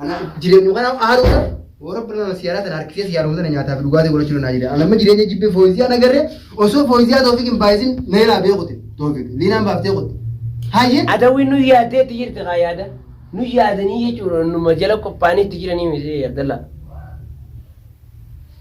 Ana jireenyu kana haaruudha. Yoo rabbi nama siyaaraa sana harkisee siyaaruma sana nyaataa fi dhugaatii godhachuu danda'a jedha. Ana amma jireenya jibbee fooyisiyaa nagarree osoo fooyisiyaa toofik hin baay'isin neelaa beekute toofik liinaan baaftee kutte. Hayyee. Adawwi nu yaadee itti jirti kaa yaada. Nu yaadanii jechuudha numa jala qophaa'anii itti jiranii miti Abdallaa.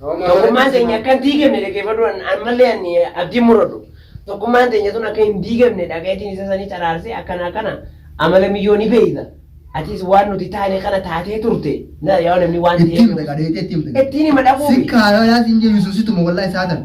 Tokkummaan teenya akka hin diigamne dhaggeeffadhu ammallee ani abdiin muradhu. Tokkummaan teenya tun akka hin diigamne dhagayetiin isa sanii caraarsee akkana akkana amala miyyoo ni beeyta. Atis waan nuti taane kana taatee turte. Na yaa namni waan Ittiin ta'eef. dhaqa deetee ittiin dhaqa. Ittiin hima dhaquu. Sikkaa yoo laas hin jiru yesuusituma wallahi saatan.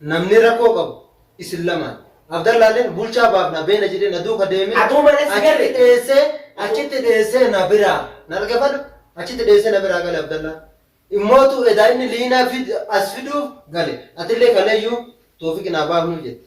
Namni rakkoo qabu isin lamaan. Abdallaalleen bulchaa baafna beena jedhee na duuka deemee Atuu mana si achitti gale. dheessee achitti dheessee na biraa na dhaggeeffadhu achitti dheessee na biraa gale Abdallaan. Immootu edaa inni liinaa fid- as fiduuf gale atillee kaleeyyuu toofiqi naa baafnuu jette.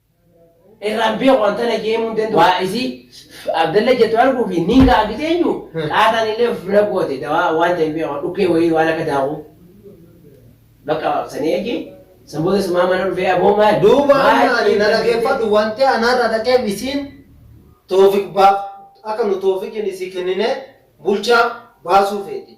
irraan beeku an tana jeemuu hin danda'u. Waa isi Abdalla jettu arguu fi niin ga'a gise eenyu qaataan illee of bira goote dawaa waan ta'e hin beeku dhukkee wayii waan akka daakuu. Bakka sanii eegi san booda sumaa mana dhufee aboo maal. Duuba amma ani na dhageeffadhu wanti anarra dhaqeef isiin toofiq baaf akka nu toofiqiin isii kennine bulchaa baasuu feeti.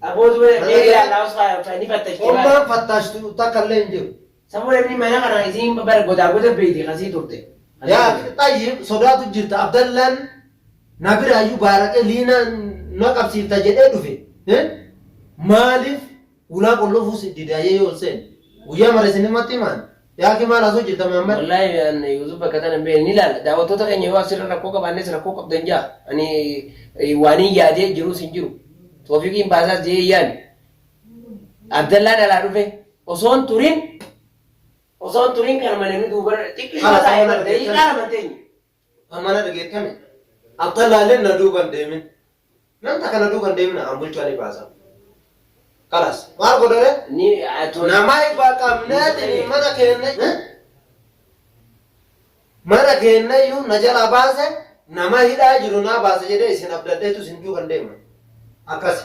Aboo zubee Kana deebi'ee jedha- Allaahus faa ni fattashti Ommaa baala. fattaashtu takka illee hin jiru. Sabuu namni mana kana isiin bara godaa goda beeyte kasii turte. Yaa xayyib sodaatu jirta Abdallaan na biraayyuu baaraqee liinaan na qabsiifta jedhee dhufe. Eh? Maaliif ulaa qollofuus didaayyee yoo seen guyyaa mara isinimatti himaan Yaa akhi maal haasoo jirta Muhammad? Wallaahi an YouTube bakka tana bee ni laala. Daawwattoota keenya yoo asirra rakkoo qabaannes rakkoo qabdan jaa. Ani eh, waaniin yaadee jiruus hin jiru. Toofiqiin baasaas jee yaani. Abdallaan alaa dhufe osoon turin osoon turin kan malee nu duuba xiqqisuma Kana taa'ee ta'uu malee daqiiqaa lama hin teenye. Amma na dhageettani? Abdallaa illeen na duuba hin deemin. Nam takka na duuba hin deemin an bulchaa ni baasa. Kalaas. Maal godha ree? Ni atoo. Nama ifa qabneetiin mana keenya eh? mana keenyayyuu na jalaa baase nama hidhaa jiru naa baase jedhee isin abdadheetu isin duuban deema akkasi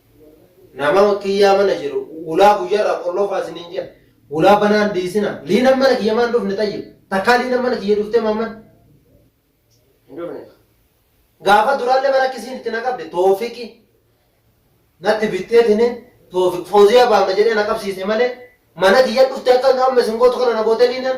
Nama kiyyaa mana jiru hulaa guyyarraa qolloofaa isiniin jedha. Hulaa banaa hin dhiisina. Liinan mana kiyya maan dhufne xayyib. Takkaa liinan mana kiyya dhuftee maamman? Hin dhufne. Gaafa duraallee bara akkisiin itti na qabde toofiqi natti bittee tinin toofiq fooziyaa baama jedhee na qabsiise malee mana kiyya dhufte akka amma isin gootu kana na goote liinan